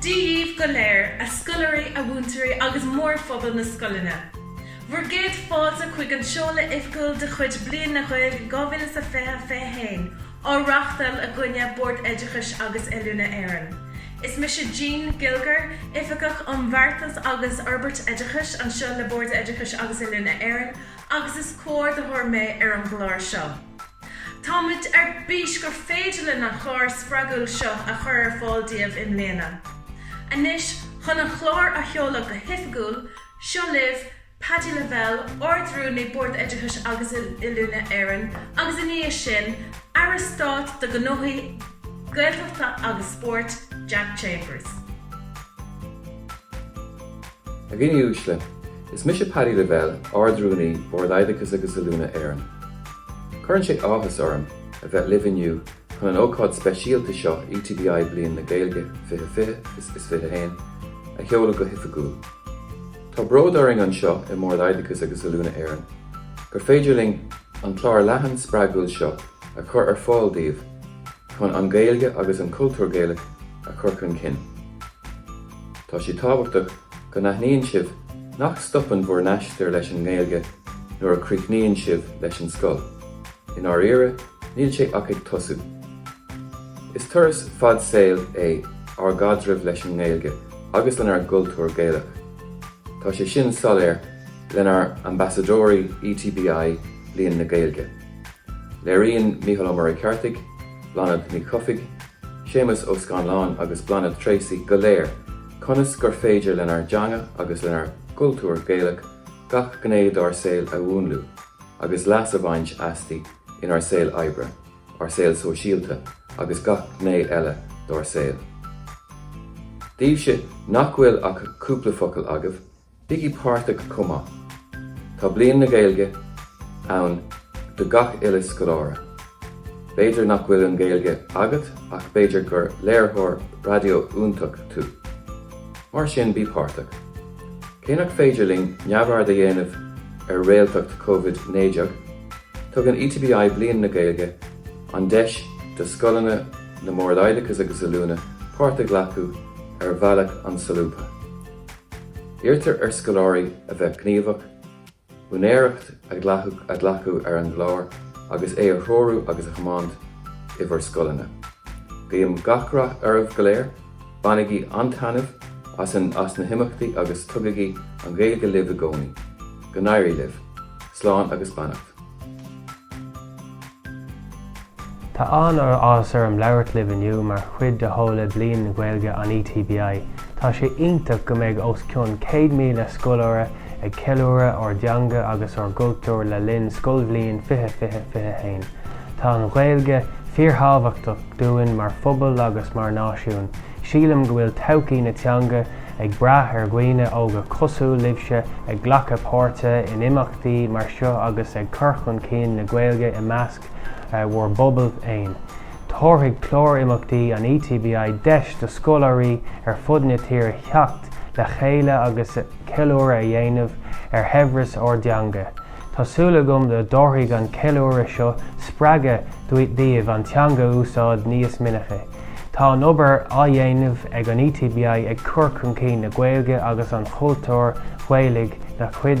Dia daoibh go léir, a scoláirí, a mhúinteoirí agus mórphobal na scoileanna, bhur gcéad fáilte chuig an seoladh oifgiúil de chuid Bliain na Gaeilge 2020-21 á reáchtáil againne, Bord Oideachais agus Oiliúna Éireann. Is mise Jean Gilger, Oifigeach um Bheartas agus Fhorbairt Oideachais anseo le Bord Oideachais agus Oiliúna Éireann agus is comhordaitheoir mé ar an gclár seo. Táimid ar bís gur féidir linn an clár spreagúil seo a chur ar fáil daoibh i mbliana. Anois, chun an clár a sheoladh go hoifigiúil, seo libh Paddy Lavelle, Ard-Rúnaí Bord Oideachais agus Oiliúna Éireann, agus ina dhiaidh sin, Aire Stáit do Ghnóthaí Gaeltachta agus Spóirt, Jack Chambers. A dhaoine uaisle, Is mise Paddy Lavelle, Ard-Rúnaí Bhord Oideachais agus Oiliúna Éireann. Cuireann sé áthas orm a bheith libh inniu chun an ócáid speisialta seo ETBI Bliain na Gaeilge 2020 is 21 a sheoladh go hoifigiúil. Tá bród orainn anseo i mBord Oideachais agus Oiliúna Éireann gur féidir linn an clár leathan spreagúil seo a chur ar fáil daoibh, Chun an Ghaeilge agus an cultúr Gaelach a chur chun cinn, tá sé tábhachtach go n-aithníonn sibh nach stopann bhur n-aistear leis an nGaeilge nuair a chríochnaíonn sibh leis an scoil, i ndáiríre, níl sé ach ag tosú. Is turas fad saoil é ár gcaidreamh leis an nGaeilge agus lenár gcultúr Gaelach. Tá sé sin soiléir lenár ambasadóirí ETBI, Bliain na Gaeilge. Léiríonn Mícheál Ó Muircheartaigh, Bláthnaid Ní Chofaigh, Séamus Ó Scanláin agus Bláthnaid Tracey go léir conas gur féidir lenár dteanga agus lenár gcultúr Gaelach gach gné dár saol a mhúnlú agus leas a bhaint asti inár saol oibre, ár saol sóisialta agus gach gné eile dár saol. Daoibhse nach bhfuil ach cúpla focal agaibh, Bígí páirteach chomh maith, tá Bliain na Gaeilge ann do gach uile scoláire. B'fhéidir nach bhfuil an Ghaeilge agat ach b'fhéidir gur léiritheoir raidió iontach tú. Mar sin bí páirteach. Cé nach féidir linn neamhaird a dhéanamh ar réaltacht Covid 19, tugann ETBI Bliain na Gaeilge an deis do scoileanna na mBord Oideachais agus Oiliúna páirt a ghlacadh ar bhealach an-solúbtha. Iarrtar ar scoláirí a bheith gníomhach, úinéireacht a ghlacadh ar an gclár agus é a threorú agus a thiomáint i bhur scoileanna. Guím gach rath oraibh go léir, bainigí an-taitneamh as na himeachtaí agus tugaigí an Ghaeilge libh i gcónaí. Go n-éirí libh. Slán agus beannacht. Tá an-áthas orm labhairt libh inniu mar chuid de sheoladh Bhliain na Gaeilge an ETBI. Tá sé iontach go mbeidh os cionn 100,000 scoláire ag ceiliúradh ár dteanga agus ár gcultúr le linn scoilbhliain 2020, 21. Tá an Ghaeilge fíorthábhachtach dúinn mar phobal agus mar náisiún. Sílim go bhfuil todhchaí na teanga ag brath ar dhaoine óga cosúil libhse ag glacadh páirte in tí mar seo agus ag cur chun cinn na Gaeilge i measc bhur bpobal féin. Tabharfaidh clár imeachtaí an ETBI deis do scoláirí ar fud na tíre theacht le chéile agus ceiliúradh a dhéanamh ar shaibhreas ár dteanga. Tá súil agam go dtabharfaidh an ceiliúradh seo spreagadh daoibh an teanga a úsáid níos minice. Tá an obair á dhéanamh ag an ETBI ag cur chun cinn na Gaeilge agus an chultúir Ghaelaigh ina chuid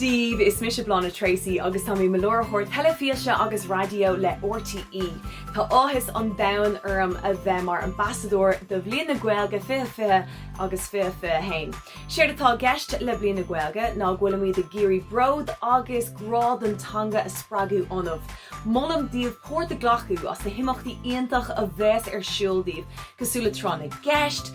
daoibh, is mise Bláthnaid Treacy agus tá mé i mo láithreoir teilifíse agus raidió le RTÉ. Tá áthas an domhain orm a bheith mar ambasadóir do Bhliain na Gaeilge 2020 agus 2021. Séard atá i gceist le Bliain na Gaeilge ná go bhfuilimid ag iarraidh bród agus grá don teanga a spreagadh ionaibh. Molaim daoibh páirt a ghlacadh sna himeachtaí iontach a bheas ar siúl daoibh, cosúil le Tráth na gCeist,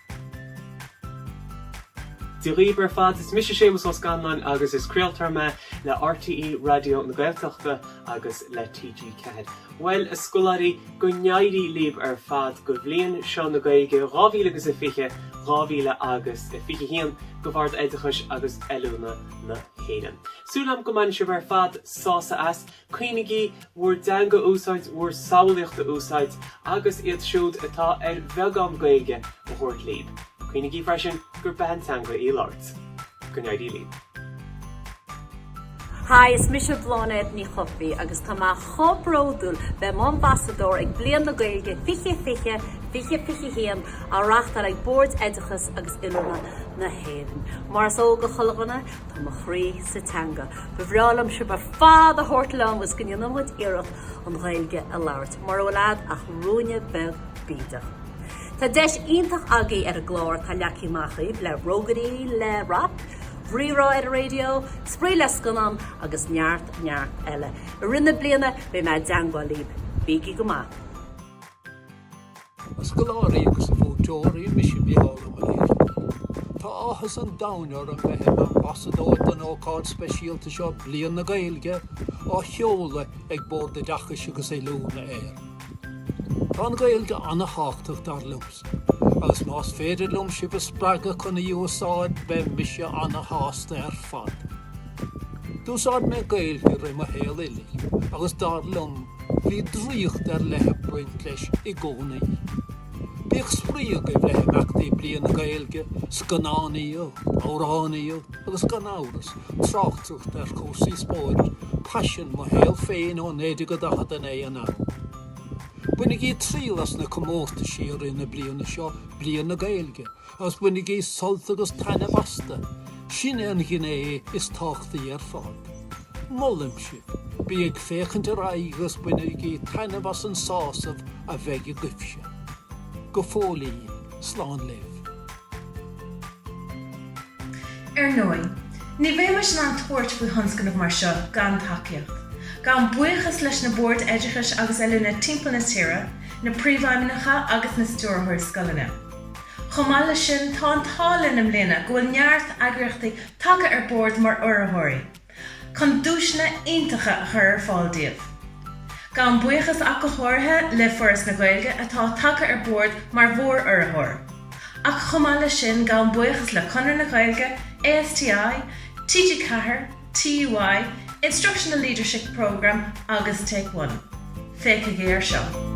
Dia dhaoibh ar fad, is mise Séamus Ó Scanláin agus is craoltóir mé le RTÉ Raidió na Gaeltachta agus le TG4. Bhuel, a scoláirí, go n-éirí libh ar fad go Bhliain seo na Gaeilge dhá mhíle agus a fiche, dhá mhíle agus a fiche haon, go Bhord Oideachais agus Oiliúna na hÉireann. Súil agam go mbainfidh sibh ar fad sásamh as. Cuimhnígí bhur dteanga a úsáid bhur samhlaíocht a úsáid agus iad siúd atá ar bheagán Gaeilge a thabhairt libh. Cuimhnígí freisin gur beatha teanga í a labhairt. Go n-éirí libh. Hi, is mise Bláthnaid Ní Chofaigh agus tá mé chomh bródúil bheith i m'ambasadóir ag Bliain na Gaeilge 2020, 2021 á reáchtáil ag Boird Oideachais agus Oiliúna na hÉireann. Mar is eol do chuile dhuine, Tá mo chroí sa teanga. Ba bhreá liom sibh ar fad a thabhairt liom le go ndéanann muid iarracht an Ghaeilge a labhairt, mura bhfuil agat ach ruainne beag bídeach. Tá deis iontach agaibh ar an gclár, tá leacaí maith agaibh le rógairí, le rap, rírá ar an raidió, spraoi le scannán agus neart, neart eile. I rith na bliana beidh mé i dteangmháil libh. Bígí go maith! A scoláirí agus a mhúinteoirí, mise Micheál Ó Muircheartaigh. Tá áthas an domhain orm a bheith im ambasadóir don ócáid speisialta seo Bliain na Gaeilge á sheoladh ag Bord Oideachais agus Oiliúna Éireann. Tá an Ghaeilge an-tábhachtach dar liomsa agus más féidir liom sibh a spreagadh chun í a úsáid beidh mise an-shásta ar fad. D'úsáid mé Gaeilge i rith mo shaol uilig agus dar liom bhí draíocht ar leith ag baint leis i gcónaí. Bíodh spraoi agaibh le himeachtaí Bliain na Gaeilge, scannánaíocht, amhránaíocht agus gan amhras, tráchtaireacht ar chúrsaí spóirt, paisean mo shaol féin ó 1949 anall. Bainigí triail as na comórtaisí i rith na bliana seo, Bliain na Gaeilge, Agus bainigí sult agus taitneamh astu, sin an ghné is tábhachtaí ar fad. Molaim sibh, bí ag féachaint ar aghaidh agus bainigí taitneamh as an sásamh a bheidh agaibhse. Go fóillín, slán libh. Ar ndóigh, ní bheimis in ann tabhairt faoi thionscnamh mar seo gan tacaíocht. Gabhaim buíochas leis na Boird Oideachais agus Oiliúna timpeall na tíre, na Príomhfheidhmeannacha agus na Stiúrthóirí Scoileanna. Chomh maith leis sin, tá an t-ádh linn i mbliana go bhfuil neart eagraíochtaí tagtha ar bord mar urraitheoirí, chun duaiseanna iontacha a chur ar fáil daoibh. Gabhaim buíochas ach go háirithe le Foras na Gaeilge atá tagtha ar bord mar mhór-urraitheoir, ach chomh maith leis sin gabhaim buíochas le Conradh na Gaeilge, ASTI, TG4, TUI, Instructional Leadership Programme agus Take One. Féachaigí air seo.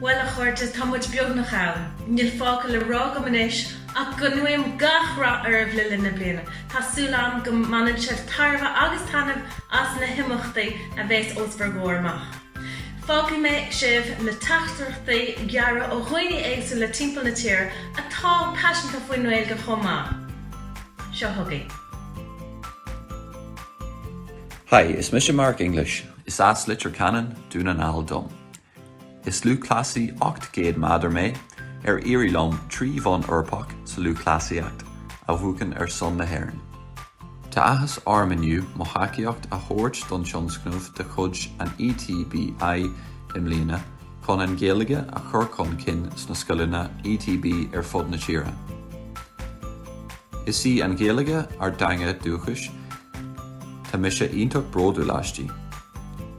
Bhuel, a chairde, tá muid beagnach ann. Níl fágtha le rá agam anois ach go nguím gach rath oraibh le linn na bliana. Tá súil agam go mbaineann sibh tairbhe agus taitneamh as na himeachtaí a bheas os bhur gcomhair amach. Fágfaidh mé sibh le teachtaireachtaí gearra ó dhaoine éagsúla timpeall na tíre atá paiseanta faoin nGaeilge chomh maith. Seo chugaibh. Hi, is mise Mark English. Is as Leitir Ceanainn, Dún na nGall dom. Is lúthchleasaí 800 meadar mé, ar éirigh liom trí bhonn Eorpach sa lúthchleasaíocht a bhuachan ar son na hÉireann. Tá athas orm inniu mo thacaíocht a thabhairt don tionscnamh de chuid an ETBI i mbliana chun an Ghaeilge a chur chun cinn sna scoileanna ETB ar fud na tíre. Is í an Ghaeilge ár dteanga dúchais, Tá mise iontach bródúil aisti.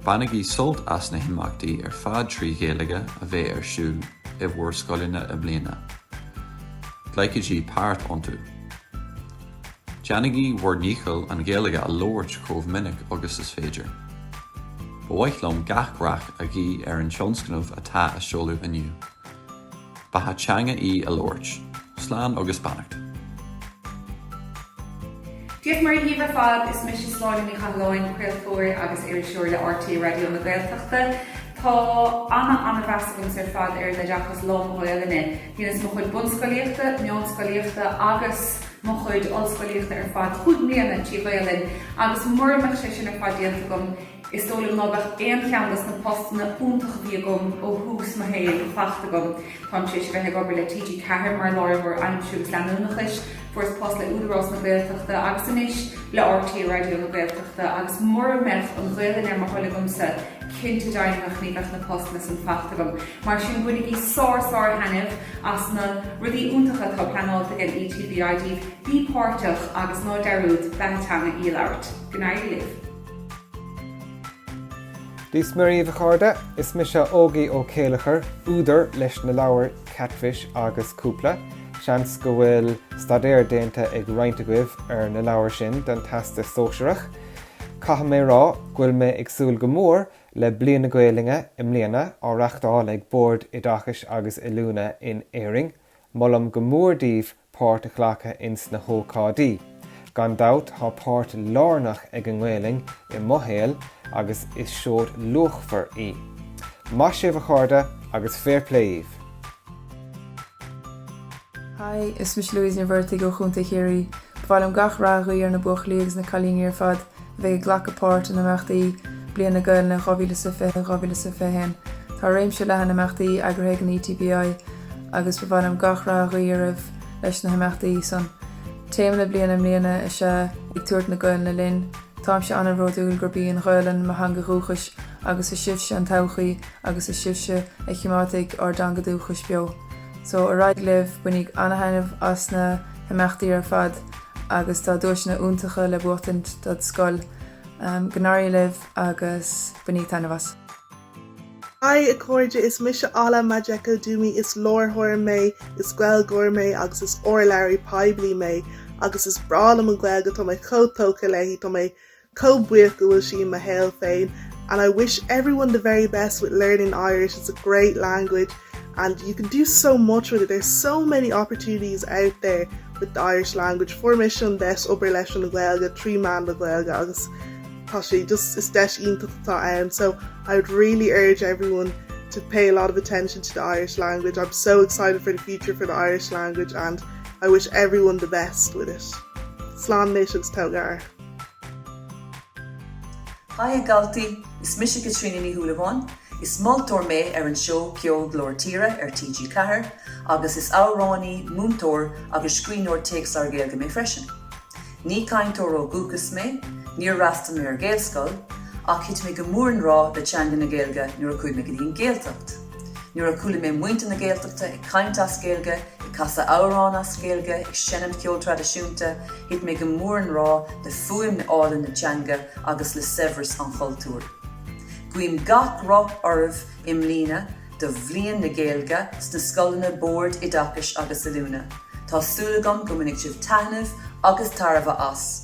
Bainigí sult as na himeachtaí ar fad trí Ghaeilge a bheidh ar siúl i bhur scoileanna i mbliana. Glacaigí páirt iontu. Déanaigí bhur ndícheall an Ghaeilge a labhairt chomh minic agus is féidir. Ba mhaith liom gach rath a ghuí ar an tionscnamh atá á sheoladh inniu. Beatha teanga í a labhairt. Slán agus beannacht. Dia is Muire dhíbh ar fad, is mise Sláine Ní Chathalláin, craoltóir agus iriseoir le RTÉ Raidió na Gaeltachta. Tá ana-mheas agamsa ar fad ar an oideachas lán Ghaolainne. Dheineas mo chuid bunscoilíochta, meánscoilíochta agus mo chuid ollscoilíochta ar fad cúig mbliana trí Ghaolainn agus mura mbeadh sé sin ar fad déanta agam, Is dóigh liom ná beadh aon cheann dos na postanna iontacha a bhí agam ó thús mo shaoil fachta agam. Táim tar éis a bheith ag obair le TG Ceathair mar láiritheoir aimsire agus leanúnachais, fuaireas post le Údarás na Gaeltachta agus anois le RTÉ Raidió na Gaeltachta agus mura mbeadh an Ghaolainn ar mo thoil agamsa cinnte deimhnitheach ní bheadh na postanna san fachta agam. Mar sin bainigí sár sár thaitneamh as na rudaí iontacha atá pleanáilte ag an ETBI, bí páirteach agus ná dearúd, beatha teanga í a labhairt. Go n-éirí libh. Dia 's Muire dhaoibh a chairde, is mise Ógie Ó Céilleachair, údar leis na leabhair Katfish agus Cúpla, seans go bhfuil staidéar déanta ag roinnt agaibh ar na leabhair sin don Teastas Sóisearach. Caithfidh mé rá go bhfuil mé ag súil go mór le Bliain na Gaolainne i mbliana, á reachtáil ag Bord Oideachais agus Oiliúna in Éirinn. Molaim go mór daoibh páirt a ghlacadh ins na hócáidí. Gan dabht tá páirt lárnach ag an nGaelainn i mo shaol agus is seod luachmhar í. Maith sibh, a chairde, agus fair play dhíbh! Hi, is mise Louise Ní Mhuircheartaigh ó Chontae Chiarraí. Ba mhaith liom gach rath a ghuí ar na buachaillí agus na cailíní ar fad a bheidh ag glacadh páirt in imeachtaí Bliain na Gaelainne 2020, 2021. Tá réimse leathan imeachtaí eagraithe ag an ETBI agus ba mhaith liom gach rath a ghuí oraibh leis na himeachtaí san. Téama na bliana i mbliana is ea 'Ag Tabhairt na Gaelainne Linn'. Táimse an-bhródúil gurb í an Ghaelainn mo theanga dhúchais agus is sibhse an todhchaí agus is sibhse a chimeádfaidh ár dteanga dúchais beo. So, ar aghaidh libh, bainíg an-thaitneamh as na himeachtaí ar fad! agus tá duaiseanna iontacha le buachaint dod' scoil. Go n-éirí libh agus bainídh taitneamh as! Haigh a chairde, is mise Ola Majekodunmi, is láithreoir mé, is Gaeilgeoir mé agus is urlabhraí poiblí mé agus is breá liom an Ghaeilge, tá mé chomh tógtha léi, tá mé Chomh buíoch go bhfuil sí i mo shaol féin and I wish everyone the very best with learning Irish, it's a great language and you can do so much with it, there's so many opportunities out there with the Irish language, fuair mise an deis obair leis an Ghaeilge trí mheán na Gaeilge agus tá sé just, is deis iontach atá ann so I would really urge everyone to pay a lot of attention to the Irish language, I'm so excited for the future for the Irish language and I wish everyone the best with it. Slán anois agus tabhair aire. Haigh a Dhaltaí, is mise Caitríona Ní Shúilleabháin, is moltóir mé ar an seó ceoil Glór Tíre ar TG4 agus is amhránaí, múinteoir agus scríbhneoir téacsleabhar Gaeilge mé freisin. Ní cainteoir ó dhúchas mé, níor fhreastal mé ar Ghaelscoil, ach thit mé go mór i ngrá le teanga na Gaeilge nuair a chuaigh mé go dtí an Gaeltacht. Nuair a chuala mé muintir na Gaeltachta ag caint as Gaeilge, ag casadh amhrán as Gaeilge, ag seinm ceol traidisiúnta, thit mé go mór i ngrá le fuaimeanna áille na teanga agus le saibhreas an chultúir. Guím gach rath oraibh i mbliana do Bhliain na Gaeilge sna scoileanna, Bord Oideachais agus Oiliúna. Tá súil agam go mbainfidh sibh taitneamh agus tairbhe as.